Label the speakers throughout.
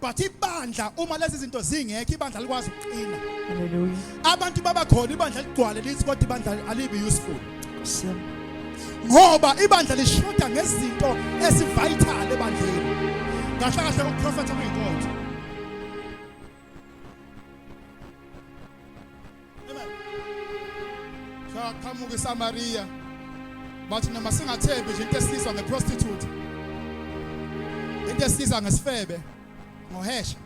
Speaker 1: but ibandla uma lezi zinto zingekho ibandla likwazi ukuqina Hallelujah.
Speaker 2: abantu baba khona
Speaker 1: ibandla ligcwale lithi kodwa ibandla alibi useful Nkosi yami.
Speaker 2: ngoba
Speaker 1: ibandla lishoda ngezinto esivital ebandleni kahle kahle ukuprofetha kuyinkonzo Saqhamuka iSamariya bathi noma singathembi nje into esizwa ngeprostitute into esizwa ngesifebe ngohesha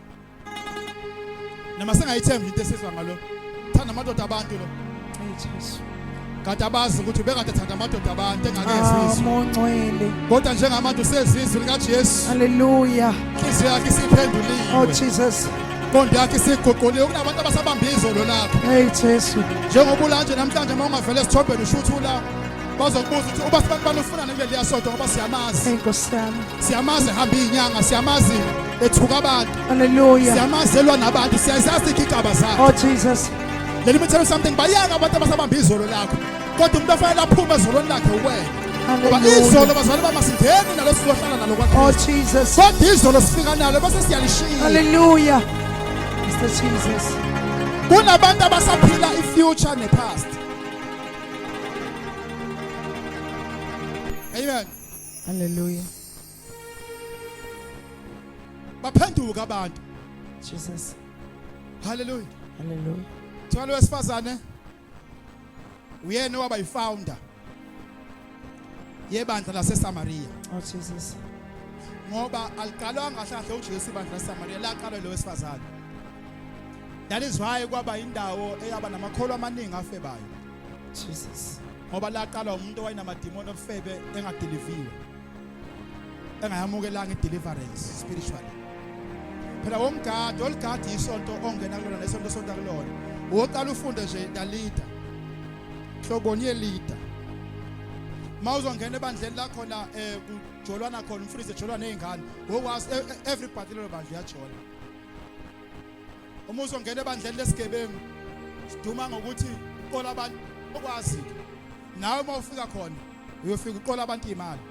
Speaker 1: noma singayithembi into esizwa ngalo thanda amadoda abantu lo Jesu
Speaker 2: kade
Speaker 1: abazi ukuthi bekade thanda amadoda abantu engakezi izwi
Speaker 2: kodwa njengamanje
Speaker 1: usezizwe izwi likaJesu haleluya
Speaker 2: inhliziyo yakhe
Speaker 1: isiphenduliwe oh jesus
Speaker 2: inqondo yakhe
Speaker 1: isiguquliwe kunabantu abasabamba izolo lapho hey jesu
Speaker 2: njengoba ulanje
Speaker 1: namhlanje uma ungavele esithombeni usho ukuthi ula bazokubuza ukuthi uba sibantu banufunane kuleliya sonto ngoba siyamazi inkosi yami
Speaker 2: siyamazi ehamba
Speaker 1: iyinyanga siyamazi ethuka abantu haleluya siyamazi
Speaker 2: elwa nabantu
Speaker 1: siyazazi igigaba zakhe oh jesus
Speaker 2: Let me tell you
Speaker 1: something bayanga abantu abasabamba izolo lakho kodwa umuntu ofanele aphume ezolweni lakhe uwena ngoba izolo bazali bama singeni nalo sizohlala nalo kwakristu oh,
Speaker 2: kodwa
Speaker 1: izolo
Speaker 2: sifika
Speaker 1: nalo bese siyalishiya halleluya
Speaker 2: mr jesus kunabantu
Speaker 1: abasaphila i-future ne-past amen halleluya baphenduka abantu Jesus
Speaker 2: haleluya
Speaker 1: haleluya
Speaker 2: thwalo wesifazane
Speaker 1: uyena waba yifounder yebandla laseSamaria oh Jesus
Speaker 2: ngoba
Speaker 1: aliqalwanga kahle uJesu ibandla laseSamaria laqalwa lo wesifazane that is why kwaba indawo eyaba namakholwa amaningi afebayo Jesus
Speaker 2: ngoba laqalwa
Speaker 1: umuntu owayenamadimoni obufebe engadeliviwe engayamukelanga ideliverance spiritually phela womgadi oligadi isonto ongena kulona nesonto sonta kulona woqala ufunde nje dalida hloboni yelida mawuzongena ebandleni lakho la eh kujolwana khona umfundisi ejolwa nezingane ngokwazi e, e, everybody lelo bandla uyajola uma uzongena ebandleni lesigebengu siduma ngokuthi qola abantu okwazi nawe uma ufika khona uyofika uqola abantu imali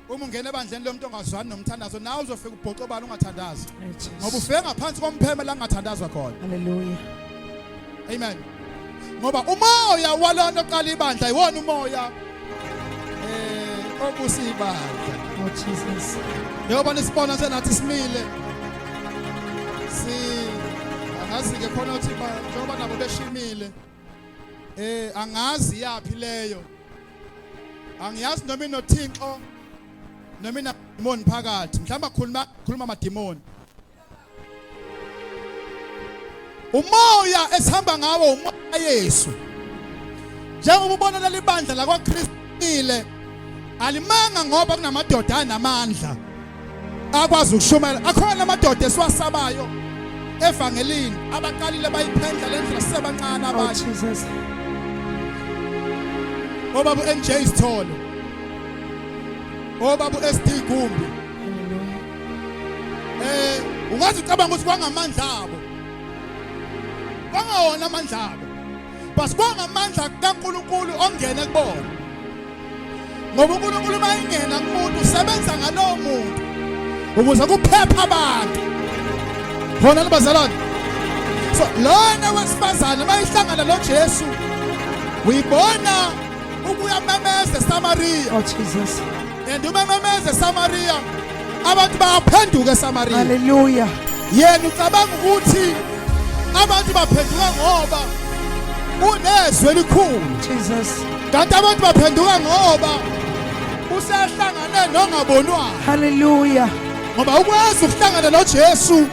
Speaker 1: uma ungena ebandleni lomuntu ongazwani nomthandazo nawe uzofika ubhoxe obani ungathandazi ngoba ufike ngaphansi kompheme la kungathandazwa khona haleluya Amen. Ngoba umoya walonto oqala ibandla iwona umoya eh obusibandla. Oh Jesus.
Speaker 2: Njengoba nisibona
Speaker 1: senathi simile. Si angazi ke khona uthi ba njengoba nabo beshimile. Eh angazi yaphi leyo. Angiyazi noma inothinxo noma inadimoni phakathi. Mhlawumbe akhuluma khuluma amadimoni. umoya esihamba ngawo umoya Yesu njengoba ubona leli bandla lakwaKristile alimanga ngoba kunamadoda anamandla akwazi ukushumayela akhona amadoda esiwasabayo evangelini abaqalile bayiphendla lendlela sisebancane oh, abasha obaba uNJ Sithole obaba uSD Gumbi
Speaker 2: Eh ungazi ucabanga ukuthi
Speaker 1: kwangamandla abo. Kwangawona amandla abo. Bas kwangamandla kaNkuluNkulu ongene kubona. Ngoba uNkuluNkulu mayingena kumuntu usebenza ngalowo muntu ukuze kuphephe abantu. Khona bazalwane. So lona wesifazane mayihlangana noJesu uyibona ukuyamemeza eSamariya. Oh Jesus.
Speaker 2: And uma
Speaker 1: memeze Samaria abantu bayaphenduka eSamaria. Hallelujah.
Speaker 2: Yena ucabanga
Speaker 1: ukuthi abantu baphenduka ngoba unezwe elikhulu. Jesus.
Speaker 2: Kanti abantu
Speaker 1: baphenduka ngoba usehlangane nongabonwayo. Hallelujah.
Speaker 2: Ngoba ukwazi
Speaker 1: ukuhlangana noJesu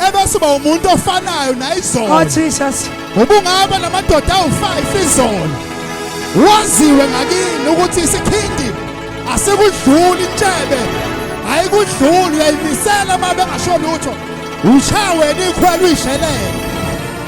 Speaker 1: ebese uba umuntu ofanayo nayizolo oh jesus
Speaker 2: ubungaba
Speaker 1: namadoda awu-5 izolo waziwe ngakini ukuthi isikhindi asikudluli intshebe ayikudluli uyayimisela uma bengasho lutho ushaweni ikhwela uyishelele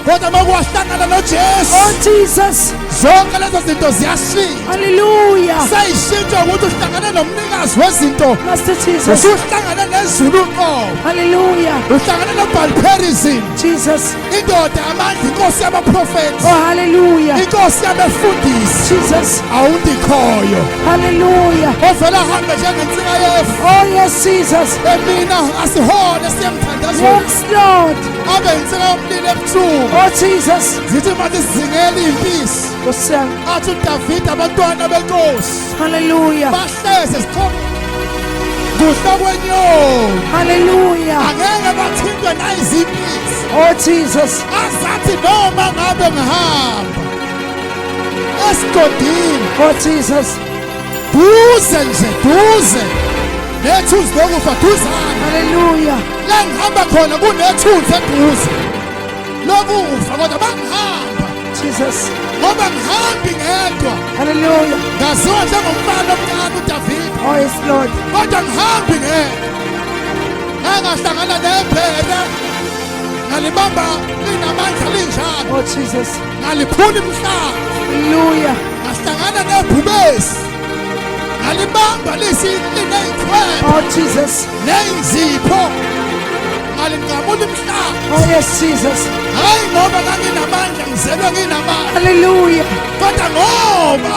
Speaker 1: kodwa uma kuwahlangana nojesu Oh, Jesus.
Speaker 2: zonke lezo
Speaker 1: zinto ziyashintsha Hallelujah.
Speaker 2: seyishintshwa ukuthi
Speaker 1: uhlangane nomnikazi wezinto Master Jesus.
Speaker 2: usuhlangane nezulu
Speaker 1: uqobo Hallelujah.
Speaker 2: uhlangane
Speaker 1: nobhalperism Jesus.
Speaker 2: indoda amandla
Speaker 1: inkosi yabaprofethi Oh, hallelujah.
Speaker 2: inkosi yabefundisi
Speaker 1: Jesus.
Speaker 2: awundikhoyo
Speaker 1: Hallelujah.
Speaker 2: ovela ahambe
Speaker 1: njengensika yefu Oh, yes, Jesus.
Speaker 2: emina
Speaker 1: asihole siyemthandazweni Yes, Lord.
Speaker 2: Abe insika
Speaker 1: yomlilo ebusuku. Oh Jesus.
Speaker 2: Zithi manje sizingela
Speaker 1: impisi. Kusiyami. Athi
Speaker 2: uDavide
Speaker 1: abantwana benkosi. Hallelujah.
Speaker 2: Bahleze
Speaker 1: sikhona kuhla kwenyoni haleluya
Speaker 2: angeke bathintwe
Speaker 1: nayizimpisi oh jesus
Speaker 2: azathi
Speaker 1: noma ngabe ngihamba esigodini oh jesus
Speaker 2: duze
Speaker 1: nje duze nethunzi lokufa duzane haleluya
Speaker 2: la ngihamba
Speaker 1: khona kunethunzi eduze lokufa kodwa bangihamba jesus
Speaker 2: ngoba ngihambi
Speaker 1: ngedwa haleluya
Speaker 2: ngaziwa njengomfana
Speaker 1: omncane udavida oh yes lord
Speaker 2: kodwa ngihambi
Speaker 1: ngedwa angahlangana nebhere ngalibamba linamandla linjalo oh jesus
Speaker 2: ngaliphula imhlaba
Speaker 1: haleluya
Speaker 2: ngahlangana
Speaker 1: nebhubesi ngalibamba lisini neyikhwela oh jesus
Speaker 2: neyizipho
Speaker 1: ngalinqamula imhlaba oh yes jesus
Speaker 2: hayi ngoba
Speaker 1: nganginamandla ngizelwe nginamandla haleluya
Speaker 2: kodwa
Speaker 1: ngoba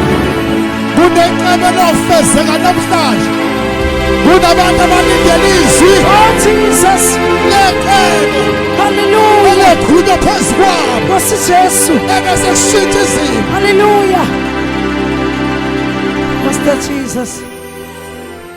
Speaker 1: kunenqaba lofezeka namhlanje kunabantu abalindele izwi oh jesus
Speaker 2: lekelo
Speaker 1: haleluya
Speaker 2: elekhulunywa phezu
Speaker 1: kwabo nkosi jesu
Speaker 2: ebese kushintsha
Speaker 1: izimo haleluya
Speaker 2: master jesus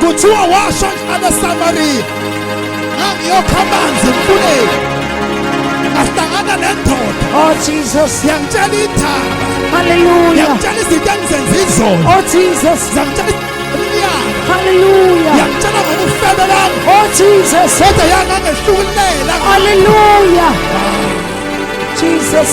Speaker 2: kuthiwa washo
Speaker 1: njalo samariya ngangiyokha amanzi emfuleni ngahlangana nendoda oh jesus
Speaker 2: yangitshela ithaba
Speaker 1: haleluya
Speaker 2: yangitshela izinto
Speaker 1: engizenza izolo oh jesus
Speaker 2: yangitshela
Speaker 1: Hallelujah.
Speaker 2: Yangitshela ngokufebe
Speaker 1: lami. Oh Jesus.
Speaker 2: Kodwa
Speaker 1: yangangehlulela. Hallelujah.
Speaker 2: Jesus.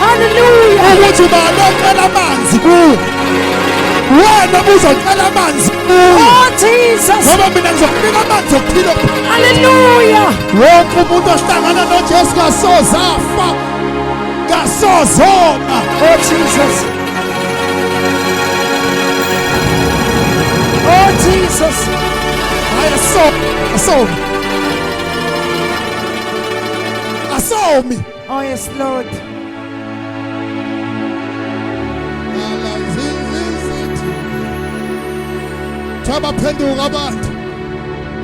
Speaker 1: Hallelujah.
Speaker 2: Ukuthi ubani
Speaker 1: ocela amanzi kuwe. Wena uzocela amanzi kuwe. Oh Jesus.
Speaker 2: Ngoba mina ngizokunika
Speaker 1: amanzi okuphila. Hallelujah.
Speaker 2: Wonke umuntu
Speaker 1: ohlangana noJesu kasoze afa. Kasoze oma. Oh Jesus.
Speaker 2: Oh Jesus. Haya
Speaker 1: so so. Asomi. Oh yes
Speaker 2: Lord.
Speaker 1: Thaba phenduka abantu.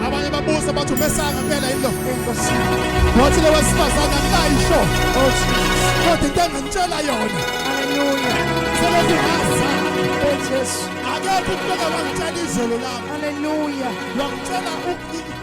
Speaker 1: Abanye babuza bathi umesanga impela yilo. Wathi lo wesifazane
Speaker 2: akayisho. Oh
Speaker 1: Jesus. Kodwa into engangitshela yona. Hallelujah. Selokhu ngaza.
Speaker 2: Oh Jesus. Akekho umuntu ongangitshela
Speaker 1: izolo lami. Hallelujah. Wangitshela
Speaker 2: ukunika